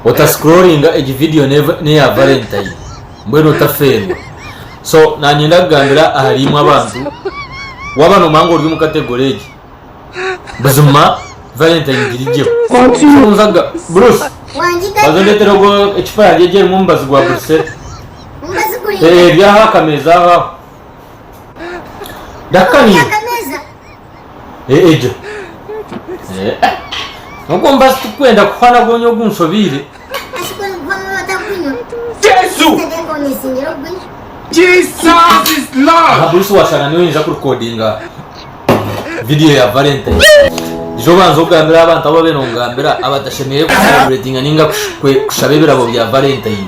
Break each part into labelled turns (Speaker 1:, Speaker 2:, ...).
Speaker 1: Ota scrollinga egi video neya valentine mbwenu otafeerwa so nanyenda kugambira ahari imwe abantu waba nomanya ngu ori omu category egi buzima valentine ngirigyeho nzaga bruce baza ondetere ogo ecupa yangye egi erimu omubazi gwa brusel eri aho akameza aho aho ndakukaniira Eh, egyo. Eh, ah. Ogwo mubazi tikwenda kuhwana gwonya ogu nshobeire. Jesu! Jesus is Lord! Aha Bruce washanga niwe ninja kurekodinga video ya Valentine. Ija obanze ogambire abantu abu babaire nongambira abatashemereire kucelebratinga ninga kush- kwe- kushaba ebirabo bya Valentine.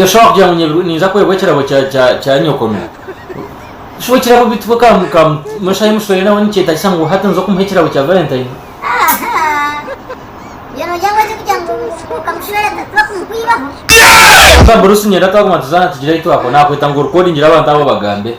Speaker 2: Yoshua kugira ngu nyebi
Speaker 1: ninza kwebwa ekirabo kya kya kya nyoko no shi ekirabo bitu ka ka mushahi muswere nawe nikyetagisa ngu hati nza okumuha ekirabo kya
Speaker 2: valentine Konka
Speaker 1: Bruce nyenda twaguma tuzaana tugire ahi twako nakweta ngu recordingire abantu abo obagambe